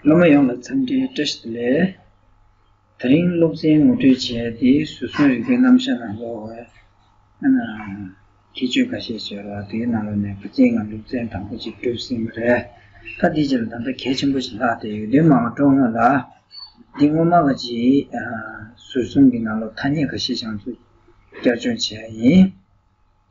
སློབ་མ་ཡོངས་ལ་འཚམས་འདྲིའི་བཀྲ་ཤིས་ལན། ད་རིང་སློབ་ཚན་ངོ་སྤྲོད་བྱས་ཏེ་ཟུར་གསུམ་རིག་པའི་རྣམ་གཞག་ནང་ལོ་འི་ནང་ཁྱད་ཆོས་འགའ་ཤས་བྱས་པ་དེའི་ནང་ལོ་ནས་བུ་བཙན་ངང་སློབ་ཚན་དང་པོ་ཅིག་བསྒྲུབས་ཟིན་པ་རེད། ད་འདིའི་རྗེས་ལ་གདམ་ག་གལ་ཆེན་པོ་ཞིག་ལྷག་སྟེ་ཡུལ་དུས་མང་བ་སྤྲོ་དངོས་ལ། འདི་སྔོན་མ་བ་ཅིག་ཟུར་གསུམ་གྱི་ནང་ལོ་ཐ་སྙད་འགའ་ཤས་བྱང་ཚུལ་བསྐྱར་སྦྱོང་བྱས་པ་ཡིན།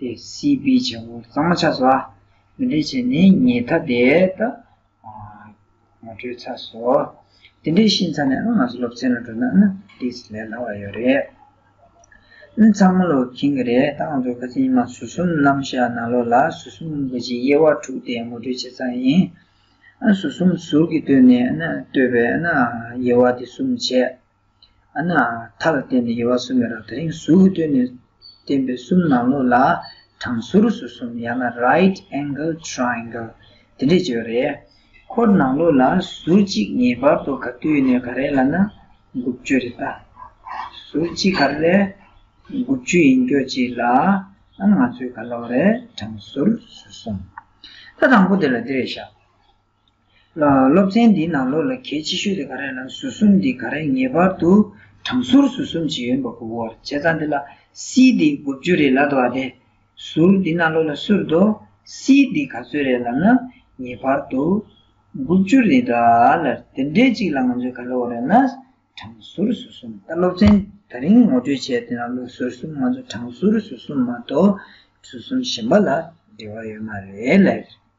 དེ་སྲིད་པའི་བྱེད་པོ་གཙང་མ་ཆགས་སོ། མི་འབྲལ་བྱས་ནས་ཉལ་ཐ་དད་དུ་ངོ་སྤྲོད་ཚར་སོ། དེ་འདྲའི་ཤིང་ཚ་ནས་ང་ཚོ་སློབ་ཚན་ལ་འགྲོ་ན་དེ་སྲིད་ལས་སླ་བ་ཡོད་རེད། ཚང་མ་ལོ་ཁེངས་ཀྱི་རེད་ད་ང་ཚོ་ཁ་ཆེ་ཉི་མ་ཟུར་གསུམ་རྣམ་གཞག་ནང་ལོ་ལ་ཟུར་གསུམ་དགུ་བཞི་དབྱེ་བ་དྲུག་སྟེ་ངོ་སྤྲོད་བྱེད་ཚར་ཡིན། ཟུར་གསུམ་ཟུར་གྱིས་བསྟོད་ནས་བསྟོད་པའི་དབྱེ་བ་དེ་གསུམ་བྱས། ཨ་ནྃ་ཐ་ལ་བརྟེན་ནས་དབྱེ་བ་གསུམ་མེད་རོ་དེ་རིང་གཟུགས་སྟོན་ནས་བསྟན་པའི་གསུམ་ནང་ལོགས་ལ་དྲང་ཟུར་སུ་གསུམ་ཡང་ན right angle triangle དེ་འདྲས་བྱས་པ་རེད། འཁོར་ནང་ལོགས་ལ་ཟུར་གཅིག་ངེས་པར་དུ་ག་དུས་ནས་ག་རེ་ལ་ན་དགུ་བཅུ་རེད་ད། ཟུར་གཅིག་ག་རེ་ལས་དགུ་བཅུ་ཡིན་རྒྱོ་གཅིག་ལ་ཨ་ནྃ་ང་ཚོའི་ག་ལོགས་རེད་དྲང་ཟུར་སུ་གསུམ། ད་དང་པོ་འདི་ལ་འདི་རེད་བཞག། སློབ་ཚན་འདིའི་ནང་ལོ་ལ་གལ་ཆེ་ཤོས་དེ་ག་རེ་ལ་ཟུར་གསུམ་འདི་ག་རེ་ངེས་པར་དུ་དྲང་ཟུར་ཟུར་གསུམ་བྱེད་ཡོན་པ་པོ་བོར་བྱས་ཙང་འདི་ལ་སི་འདི་དགུ་བཅུ་རེ་ལ་དོ་ཨདེ། ཟུར་འདི་ནང་ལོ་ལ་སུར་དོ་སི་འདི་ག་ཚོད་རེ་ལ་ན་ངེས་པར་དུ་དགུ་བཅུ་རེ་དོ་ཨལ་འདི་འདྲའི་གཅིག་ལ་ང་ཚོས་ག་རེ་བོར་ཡོན་ན་དྲང་ཟུར་ཟུར་གསུམ་ད་སློབ་ཚན་ད་རིང་ངོ་སྤྲོད་བྱས་འདི་ནང་ལོ་ཟུར་གསུམ་ང་ཚོ་དྲང་ཟུར་ཟུར་གསུམ་མ་གཏོགས་ཟུར་གསུམ་གཞན་པ་ལ་འབྲེལ་བ་ཡོད་མ་རེད་ལེར།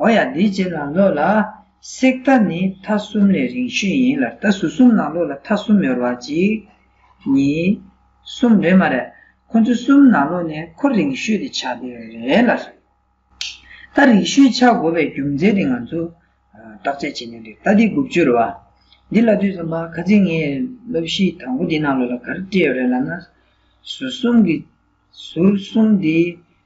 འོ་ཡ་འདིའི་རྗེས་ལ་ལོས་ལ། སྲེག་རྟ་ནི་མཐའ་གསུམ་ལས་རིང་ཤོས་ཡིན་ལ་རྟ་ཟུར་གསུམ་ནང་ལོགས་ལ་མཐའ་གསུམ་ཡོར་བ་གཅིག། གཉིས། གསུམ་རེད་མ་རེད། ཁོ་ཚོ་གསུམ་ནང་ལོགས་ནས་ཁོ་རིང་ཤོས་དེ་ཆགས་དེ་རེད་ལ། རྟ་རིང་ཤོས་ཆགས་དགོས་པའི་རྒྱུ་མཚན་དེ་ང་ཚོ་རྟོགས་དཔྱད་བྱེད་ནི་རེད་རྟ་འདི་དགུ་བཅུ་རེད་བ། འདི་ལ་དུས་སུ་མ་ག་ཚིག་ངའི་སློབ་གཞི་དང་པོ་འདི་ནང་ལོགས་ལ་ག་རེ་སྤྲད་ཡོད་རེད་ལབ་ན། ཟུར་གསུམ་གྱི། ཟུར་གསུམ་འདི།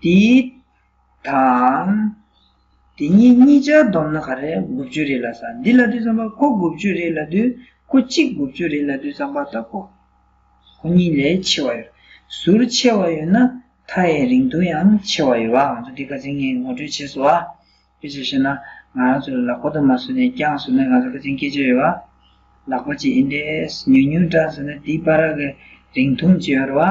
འདི་དང། འདི་གཉིས་གཉིས་ཆར་བསྡོམས་ན་ག་རེ་དགུ་བཅུ་རེ་ལ་ས་འདི་ལ་དུས་ཙམ་པ་ཁོ་དགུ་བཅུ་རེ་ལ་དུས་ཁོ་གཅིག་དགུ་བཅུ་རེ་ལ་དུས་ཙམ་པ་ལྟ་བུ། ཁོ་གཉིས་ལས་ཆེ་བ་ཡོད། ཟུར་ཆེ་བ་ཡོད་ན་མཐའ་ཡས་རིང་ཐུང་ཡང་ཆེ་བ་ཡོད་པ་ང་ཚོ་འདི་ག་ཚིག་ངན་ངོ་སྤྲོད་བྱེད་བཟོ་བ། ཅི་ཞེས་ཤེ་ན་ང་རང་ཚོ་ལ་ལག་པ་དུ་མ་བཟོས་ནས་བརྐྱངས་ཟུར་ནས་ང་ཚོ་ག་ཚིག་སྐད་ཆ་ཡོད་པ། ལག་པ་གཅིག་ཨིན་དེས་ཉུང་ཉུང་བཀྲ་ཟུར་ནས་འདིས་པ་ར་གི་རིང་ཐུང་ཅི་ཡོད་ར་བ།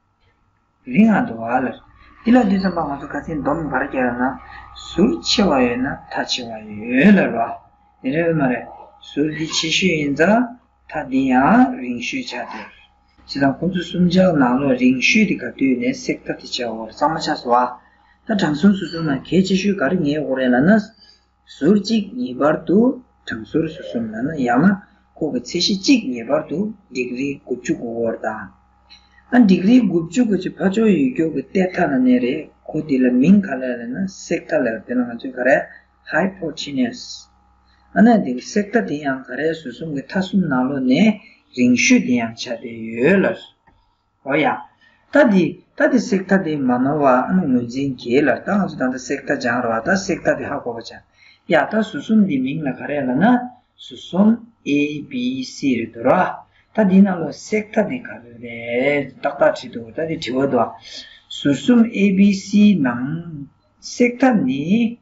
རིང་ང་འདུག་ཨ་ལས། འདི་ལ་དུས་མཚམས་པ་ང་ཚོ་ག་ཚད་འདོམས་བར་བྱ་ཡོད་ན། ཟུར་ཆེ་བ་ཡོད་ན་མཐའ་ཆེ་བ་ཡོད་ལ་རོ། དེ་རེད་འོས་མ་རེད། ཟུར་འདི་ཆེ་ཤོས་ཡིན་ཙང་མཐའ་འདི་ཡང་རིང་ཤོས་ཆགས་སྡོད། བྱས་ཙང་ཁོང་ཚོ་གསུམ་ཆར་ནང་ལོགས་རིང་ཤོས་དེ་ག་དུས་ནས་བསྲེགས་ཐབས་དེ་བྱས་འོར་གཙང་མ་ཆགས་སོ། ད་དྲང་སྲོང་སུ་གསུང་ན་གལ་ཆེ་ཤོས་ག་རེ་ངའི་འོ་རེད་ལ་ན། ཟུར་གཅིག་ངེས་པར་དུ་གྲངས་ཟུར་སོ་གསུམ་ལ་ནི་ཡང་ན་ཁོག་གི་ཚད་གཞི་གཅིག་ངེས་པར་དུ་འགྲིག་རིགས་དགུ་བཅུ་གོ་བོར་དང། ཨ་འགྲིག་རིགས་དགུ་བཅུ་གོ་ཆེ་ཕ་ཅོ་ཡུལ་སྐྱོར་གྱི་གཏེར་མཐའ་ལ་གནས་རེད་གོ་དེ་ལ་མིང་ག་ལས་ལ་ན་གསེག་མཐའ་ལས་དེ་ལ་ང་ཚོས་ག་རེད Hypotenuse ཨ་ན་དེ་གི་གསེག་མཐའ་དེ་ཡང་ག་རེད་ཟུར་གསུམ་གྱི་མཐའ་གསུམ་ནང་ལོ་ནས་རིང་ཤོས་དེ་ཡང་ཆ་དེ་ཡོད་ལ། ཨོ་ཡ། ད་དེ། ད་དེ་སྲེག་ཐ་དེ་མ་ནོར་བ་ཨ་ནུ་ངོས་འཛིན་རྒྱས་ལ་ད་ང་ཚོ་ད་ད་སྲེག་ཐ་སྦྱང་རོགས་ཨ་ད་སྲེག་ཐ་དེ་ཧ་གོ་བ་སྦྱང། ཡ། ད་ཟུར་གསུམ་དེ་མིང་ལ་ག་རེ་ལ་ན། ཟུར་གསུམ A B C རེད་དོ་ར། ད་དེ་ནང་ལ་སྲེག་ཐ་དེ་ག་རེ་རེད་ཏག་ཏག་བྲིས་འདུག་ད་དེ་བྲི་བ་དོ། ཟུར་གསུམ A B C ནང་སྲེག་ཐ་ནི།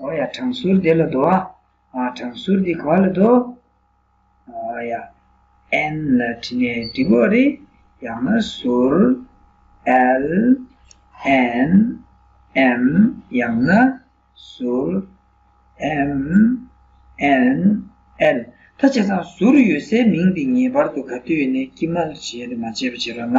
ཨོ་ཡ་གྲང་ཟུར་དེ་ལ་དོ། ཨ་གྲང་ཟུར་དེ་ག་ལ་དོ། ཨོ་ཡ། ཨན་ལ་དྲི་ནས་འདྲི་གོ་རེ། ཡང་ན་ཟུར། ཨལ། ཨན། ཨེམ། ཡང་ན། ཟུར། ཨེམ། ཨན། ཨལ། ད་བྱས་ཙང་ཟུར་ཡོད་སའི་མིང་དེ་ངེས་པར་དུ་ག་དུས་ནས་ཀྱི་མ་ལ་བྱས་ཏེ་མ་བྱས་པ་བྱས་པ་ན།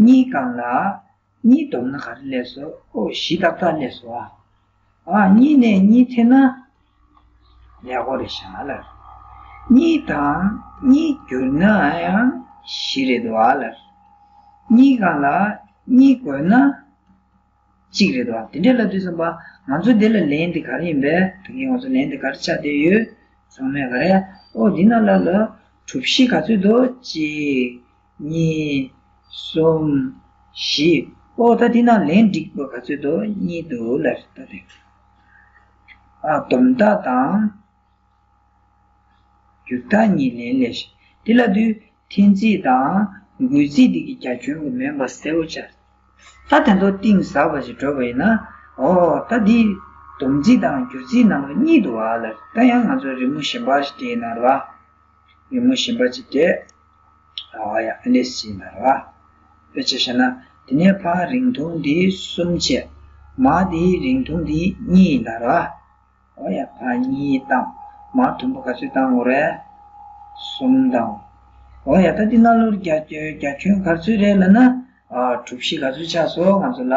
གཉིས་གང་ལ། གཉིས་སྡོམ་ན་ག་རེ་ལས་སོ། གཞི་བདག་རྩ་ལས་སོ། གཉིས་གནས་གཉིས་ཐེག་ན། ལས་གོ་རེ་ཤཱ་ལ། གཉིས་དང་གཉིས་བསྒྱུར་ན་ཡང། བཞི་རེ་དོ་ཨ་ལ། གཉིས་གང་ལ། གཉིས་དགོས་ན། གཅིག་རེ་དོ་ཨ། དེ་འདྲའི་བླ་བདུད་ཟམ་པ། ང་ཚོ་དེ་ལ་ལན་འདི་ག་རེ་ཡིན་པས། ཐུགས་ངེས་ང་ཚོ་ལན་འདི་ག་རེ་ཆགས་བསྡད་ཡོད། ཚང་མས་ག་རེ། འདི་ན་ལ་ལ། གྲུ་བཞི་ག་ཚོད་དོ། གཅིག། གཉིས། གསུམ། བཞི། ཨོ་ད་དེ་ན་ལན་འགྲིག་པ་ག་ཚོད་དོ་གཉིས་འདུག་ལ་རེ་ད་རེ། ཨ་དོམ་རྟ་དང། རྒྱུ་རྟ་གཉིས་ལན་ལས་ཤིག་དེ་ལ་དུས་མཐའི་རྩིས་དང་དགུའི་རྩིས་དེ་གི་རྒྱ་ཁྱོན་གོ་མེན་པ་གསལ་བོ་ཆགས། ད་དེ་ཚོ་གཏིང་ཟབ་པ་ཞིག་བགྲོད་པ་ཡིན་ན་ཨོ་ད་དེ་དོམ་རྩིས་དང་རྒྱུ་རྩིས་ནང་ལ་གཉིས་འདུག་ལ་རེ་ད་ཡང་ང་ཚོ་རི་མོ་ཞིམ་པ་ཞིག་བྲིས་ན་རེ་བ། རི་མོ་ཞིམ་པ་ཅིག་བྲིས། ལ་བ་ཡང་ཨེ་ལེས་ཡིན་པར་བ། དཔེར་ཅི་ཞེ་ན་དེ་ནས་བ་རིང་ཐུང་འདི་གསུམ་བྱས། མ་དེ་རིང་ཐུང་འདི་གཉིས་ཡིན་པར་བ། བ་ཡང་བ་གཉིས་དང་མ་དུམ་བུ་ག་ཚོད་བཏང་ངོ་རེ། གསུམ་དང། བ་ཡང་ད་འདི་སྣ་ལོར་རྒྱ་ཁྱོན་གར་ཚོད་རེ་ལ་ན། དྲུག་བཞི་ག་ཚོད་ཆགས་སོ་ང་ཚོ་ལ།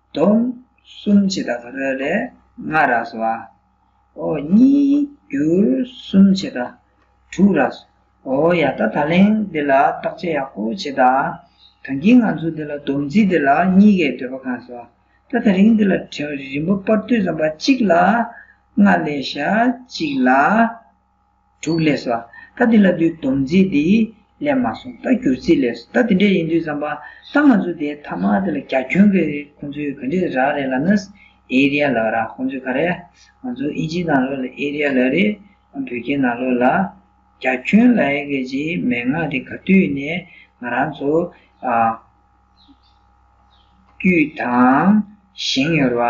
སྡོམ། གསུམ་བྱེ་ད་ག་རོས་ལས་ལྔ་རགས་སོ། ཨོ། གཉིས་བསྒྱུར་གསུམ་བྱེ་ད་དྲུག་རགས་སོ། ཨོ་ཡ་ད་ད་ལེན་འདི་ལ་རྟགས་ཆ་ཡག་པོ་བྱེ་ད། ད་གིན་ང་ཚོ་འདི་ལ་སྡོམ་རྩིས་འདི་ལ་གཉིས་ཀའི་འདོད་པ་གང་སོ། ད་ད་རིང་འདི་ལ་བྲེ་བ་རིན་པོ་སྤར་དུས་ཙམ་པ་གཅིག་ལ། ལྔ་ལས་ཞག་གཅིག་ལ། དྲུག་ལས་སོ། རྟ་འདི་ལ་དུས་སྡོམ་རྩིས་འདི་ལས་མ་སོང་རྟ་བསྒྱུར་རྩིས་ལས་སོ་རྟ་འདི་འདྲའི་ཡིན་དུས་བཟང་པ་རྟ་ང་ཚོ་དེའི་ཐ་མ་དེ་ལ་རྒྱ་ཁྱོན་གྱི་ཁོང་ཚོའི་ག་འདྲི་རག་རེད་ལབ་ན་ཨེརིཡ་ལགས་རག་ཁོང་ཚོའི་ག་རེད་ང་ཚོ་ཨིན་ཇི་ནང་ལོག་ལ་ཨེརིཡ་ལགས་རེད་ཨ་བོད་སྐྱེ་ནང་ལོག་ལ་རྒྱ་ཁྱོན་ལ་ཡི་གེ་ཇི་མེད་ངག་དེ་ག་དུས་ནས་ང་རང་ཚོ་རྒྱུད་དང་ཞེང་ཡོར་བ་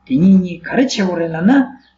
དེ་གཉིས་གཉིས་ག་རེ་ཆེ་བོ་རེད་ལབ་ན་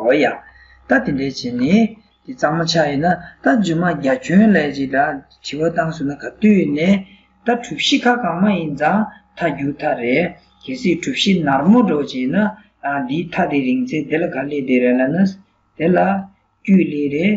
ཨོ་ཡ། ད་དེ་འདྲའི་བྱེད་ནི། དེ་གཙང་མ་ཆགས་ཡོད་ན་ད་རྗུན་མ་རྒྱ་ཁྱོན་ལས་ཅི་དྲག་བྱི་བ་བཏང་སོང་ན་ག་དུས་ནས་ད་གྲུ་བཞི་ཁ་གང་མ་ཡིན་ཙང་ཐ་རྒྱུག་ཐ་རེད་གལ་སྲིད་གྲུ་བཞི་ནར་མོ་འགྲོ་བྱེད་ན་འདིའི་ཐ་དེ་རིང་ཚེ་དེ་ལ་ག་ལས་དེ་རེད་ལ་ནས་དེ་ལ་དཀྱུས་ལས་རེད།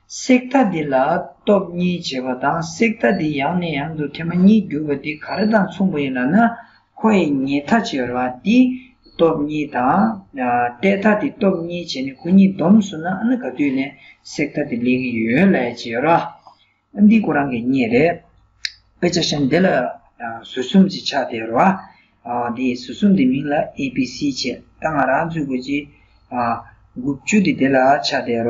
བསྲེག་ཐ་དི་ལ་སྟོབས་གཉིས་བྱེད་པ་དང་བསྲེག་ཐ་དི་ཡང་ནས་ཡང་དུ་ཐེམ་མ་གཉིས་བསྒྱུར་བ་འདི་ག་རེ་དང་མཚུངས་པ་ཡིན་ལ་ན་ཁོ་ཡི་ཉེ་ཐ་བྱེད་པ་དི་སྟོབས་གཉིས་དང། བལྟས་ཐ་དི་སྟོབས་གཉིས་བྱེད་ནས་ཁོ་གཉིས་བསྡོམས་སུ་ན་ན་ག་དུས་ནས་བསྲེག་ཐ་དི་ལེགས་ཡོད་ལས་བྱེད་ར། འདི་ཁོ་རང་གི་གཉིས་རེད། དཔེ་ཆ་གཞན་འདི་ལ་ཟུར་གསུམ་གྱི་ཆ་དེ་ར། དེ་ཟུར་གསུམ་དེ་མིང་ལ་ཨེ་བྷི་སི་བྱེད་ད་ང་རང་འཛུལ་དགོས་ཀྱི། དགུ་བཅུ་དེ་དེ་ལ་ཆ་དེ་ར།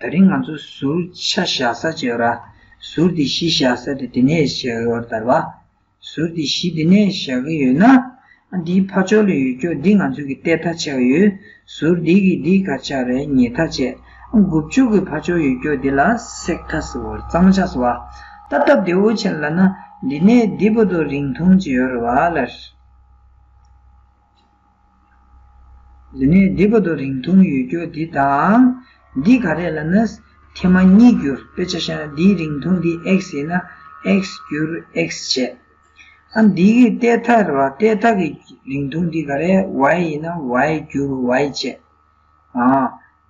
ད་རིང་ང་ཚོ་ཟུར་ཆ་བཞག་ས་བྱེ་ར། ཟུར་དེ་བཞི་བཞག་ས་དེ་དེ་ནས་བཞག་གི་བར་དར་བ། ཟུར་དེ་བཞི་དེ་ནས་བཞག་གི་ཡོད་ན། འདིའི་ཕ་ཕྱོགས་ལ་ཡོད་སྐྱོ་འདི་ང་ཚོ་གི་ལྟས་ཐ་ཆད་ག་ཡོད། ཟུར་འདི་གི་འདི་ག་ཆག་རེ་ཉེ་ཐ་ཆད། དགུ་བཅུ་གི་ཕ་ཕྱོགས་ཡོད་སྐྱོ་འདི་ལ་སྲེག་ཐ་སི་བར་གཙང་མ་ཆག་སི་བ། ལྟ་སྟབས་དེ་འུ་ཆེར་ལ་ན་འདི་ནས་འདི་བུ་དོ་རིང་ཐུང་ཅི་ཡོད་རེ་བ། ལར། འདི་ནས་འདི་བོ་དོ་རིང་ཐུང་ཡོད་རྒྱུ་འདི་དང། འདི་ག་རེ་ལ་ན་ཐེ་མ་གཉིས་རྒྱུར་དཔེ་ཆ་ཤར་ན་འདིའི་རིང་ཐུང་འདི X ཡིན་ན X རྒྱུར X བྱས། ཨ་འདི་གི་ལྟེ་མཐའ་རེ་བ་ལྟེ་མཐའ་གི་རིང་ཐུང་འདི་ག་རེ Y ཡིན་ན Y རྒྱུར Y བྱས།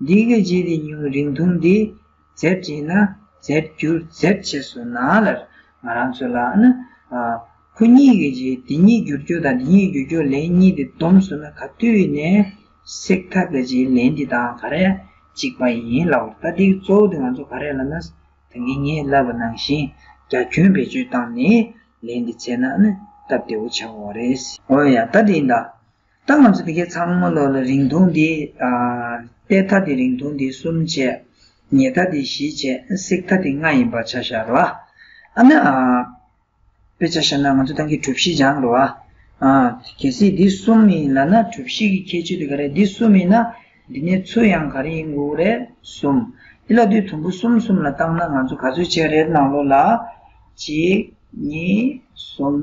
འདི་གི་རྗེས་དེ་ཉུང་རིང་ཐུང་འདི་ཟས་བྲིས་ན་ཟས་འགྱུར་ཟས་བྱས་སུ་ན་ལ་ང་རང་ཚོ་ལ་ཨ་ན། ཁོ་གཉིས་ཀྱི་རྗེས་དེ་གཉིས་འགྱུར་རྒྱུ་དང་དེ་གཉིས་འགྱུར་རྒྱུ་ལན་གཉིས་དེ་བསྡོམས་སུ་ན་ག་དུས་ནས་བསྲེག་ཐབས་ལ་རྗེས་ལན་དེ་དང་ག་རེ་གཅིག་པ་ཡིན་ལ་བར་ད་དེའི་གཙོ་བོ་དེ་ང་ཚོ་ག་རེ་ལ་ན་ད་ངས་ངས་ལབ་པ་ནང་བཞིན་རྒྱ་ཁྱོན་བེད་སྤྱོད་བཏང་ནས་ལན་དེ་བྱས་ན་ཨ་ན་སྟབས་བདེ་བོ་ཆགས་འོང་བ་རེད། འོ་ཡ་ད་དེ་འདྲ། ད་ང་ཚོ་འདི་གའི་ཚང་མ་ལོ་ལ་རིང་ཐུང་འདི་དཔལ་མཐའ་འདི་རིང་ཐུང་འདི་གསུམ་བྱས། ཉེ་མཐའ་འདི་བཞི་བྱས་སྲེག་མཐའ་འདི་ལྔ་ཡིན་པར་བྱ་ཞར་བ། ཨ་ན། དཔེ་ཆ་ཤར་ན་ང་ཚོ་ཏང་གི་གྲུབ་གཞི་སྦྱང་དགོས་བ། གལ་སྲིད་འདི་གསུམ་ཡིན་ལ་ན་གྲུབ་གཞི་གི་ཁྱད་ཆོས་དེ་ག་རེད་འདི་གསུམ་ཡིན་ན་འདི་ནས་ཚུར་ཡང་ག་རེ་ཡིན་དགོས་ཀི་རེད་གསུམ། འདི་ལ་དུས་དུམ་བུ་གསུམ་གསུམ་ལ་བཏང་ན་ང་ཚོ་ག་ཚོད་བྱས་རེད་ནང་ལོ་ལ་གཅིག། གཉིས་གསུམ་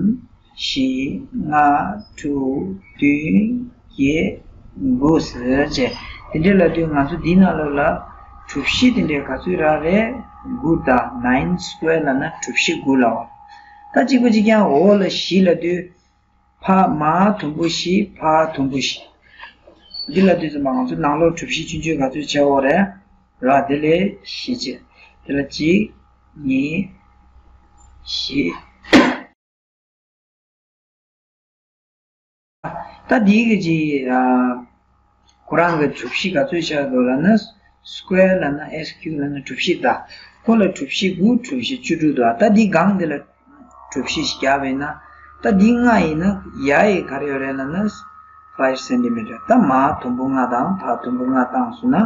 བཞི་ལྔ་དྲུག་བདུན་བརྒྱད་དགུ་ཟེར་བཅས་དེ་འདྲའི་ལ་དུས་ང་ཚོ་འདི་ན་ལོ་ལ་གྲུ་བཞི་དེ་འདྲའི་ག་ཚོད་རག་རེད་དགུ་བལྟ nine square ལ་ན་གྲུ་བཞི་དགུ་ལའོ། ད་གཅིག་པ་གཅིག་རྐྱང་འོག་ལ་བཞི་ལ་དུས། ཕ་མ་དུམ་བུ་བཞི་ཕ་དུམ་བུ་བཞི། འདི་ལ་དུས་གསུམ་པ་ང་ཚོ་ནང་ལོགས་གྲུ་བཞི་ཆུང་ཆུང་ག་ཚོད་བྱེད་འོག་རེད། ར་དེ་ལས་བཞི་བྱེད། དེ་ལ་གཅིག། གཉིས། བཞི། ད་འདིའི་གི་གཅིག། ཁོ་རང་གི་གྲུབ་གཞི་ག་ཚོད་ཤར་འདུག་ལབ་ན། Square ལབ་ན SQ ལབ་ན་གྲུབ་གཞི་བདག་ཁོ་ལ་གྲུབ་གཞི་དགུ་གྲུབ་གཞི་བཅུ་དྲུག་འདུག་ཨ་ད་འདི་སྒང་འདི་ལ་གྲུབ་གཞི་བརྒྱ་བས་ན་ད་འདི་ལྔ་ཡིན་ན་ཡ་ཡིས་གར་ཡོད་རེད་ལབ་ན། Five centimeter ད་མ་དུམ་བུ་ལྔ་དང་བ་དུམ་བུ་ལྔ་བཏང་སོང་ན།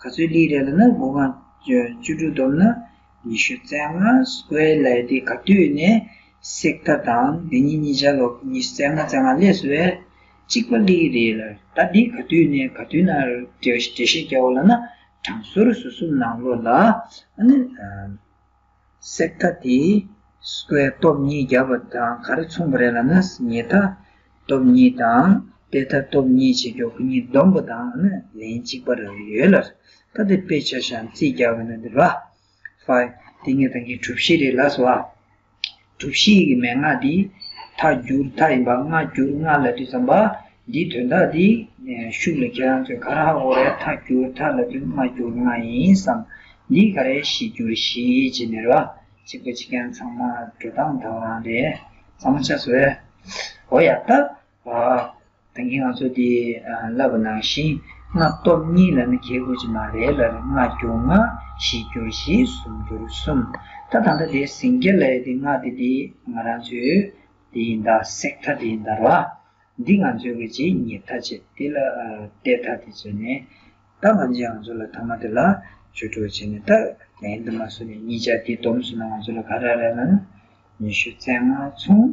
ག་ཚོད་ལི་རེ་ལ་ནི་དགུ་དགོངས་བཅུ་དྲུག་བསྡོམས་ན་ཉི་ཤུ་རྩ་ལྔ་སུའེ་ལའི་དེ་ག་དུས་ནས་སྲེག་ད་དང་འདི་ཉིད་གཉིས་ཆ་ལོ་ཉི་ཤུ་རྩ་ལྔ་རྩ་ལྔ་ལས་སུའེ་གཅིག་པ་ལི་རེ་ལ་ད་འདི་ག་དུས་ནས་ག་དུས་ན་འབྲེལ་བཤད་རྒྱའོ་ལ་ན་གྲངས་སོར་སུ་གསུམ་ནང་ལོ་ལ་ནི། གསེག་མཐའ་དེ Square སྟོབས་གཉིས་བརྒྱབ་པ་དང་ག་རེ་མཚུངས་པ་རེད་ལ་ན་ཉིས་མཐའ་སྟོབས་གཉིས་དང་དཔེ་མཐའ་སྟོབས་གཉིས་བྱེད་ཆོག་གི་གཉིས་བསྡོམས་པ་དང་ན་ལན་གཅིག་པ་རེ་ཡོད་ལ་ད་དེ་དཔེ་ཆ་བཞང་རྩིས་རྒྱག་པའི་ན་དེ་བ། Five། དེ་གཉིས་དང་གཉིས་གྲུབ་བཞི་རེད་ལ་སོ་བ། གྲུབ་བྱེད་ཀྱི་མན་ངག་འདི། ཐ་སྒྱུར་མཐའ་ཡིན་པ་སྔ་འགྱུར་སྔ་ལ་དུས་ཙམ་པ། འདིའི་དོན་དག་འདི། ཤུགས་ལ་ཁྱེད་རང་ཚོས་ག་ར་ཧ་གོ་རེ་ཐ་སྒྱུར་མཐའ་ལ་དུས་སྔ་འགྱུར་སྔ་ཡིན་བསམ། འདིས་ག་རེ་ཞིག་སྒྱུར་ཞེས་བྱས་ནས་ར། གཅིག་པ་གཅིག་རྐྱང་ཚང་མ་འགྲོ་སྟངས་དང་རང་རེད། ཚང་མ་ཆ་ཟེར་བས། འོ་ཡག་ད། བ། ད་གིན་ང་ཚོ་དེ་བསླབ་པ་ནང་བཞིན་སྔགས་སྟོབས་གཉིས་ལ་ནི་གལ་དགོས་ཀྱི་མ་རེད་ལར་སྔ་འགྱུར་སྔ་ཕྱི་འགྱུར་བཞི་གསུམ་འགྱུར་གསུམ་ད་ད་ལྟ་དེ་ཟིང་རྒྱ་ལ་ཡོད་དེ་སྔགས་དེ་དེ་ང་རང་ཚོའི་དེ་ཡིན་ད་བསྲེག་ཐ་དེ་ཡིན་ད་ར་འདི་ང་ཚོའི་གི་ཇི་སྙེད་ཐ་བྱེད་དེ་ལ་གཏད་ཐ་དེ་བྱེད་ནས་ད་ང་ཚོས་ང་ཚོ་ལ་ཐ་མ་དེ་ལ་བྱོས་འགྲོ་བྱེད་ནས་ད་གན་དུ་མ་སོ་ནས་གཉིས་ཆ་དེ་སྡོམས་སུ་ན་ང་ཚོ་ལ་ག་ར་ར་ན་ན་ཉི་ཤུ་རྩེག་མ་མཚུངས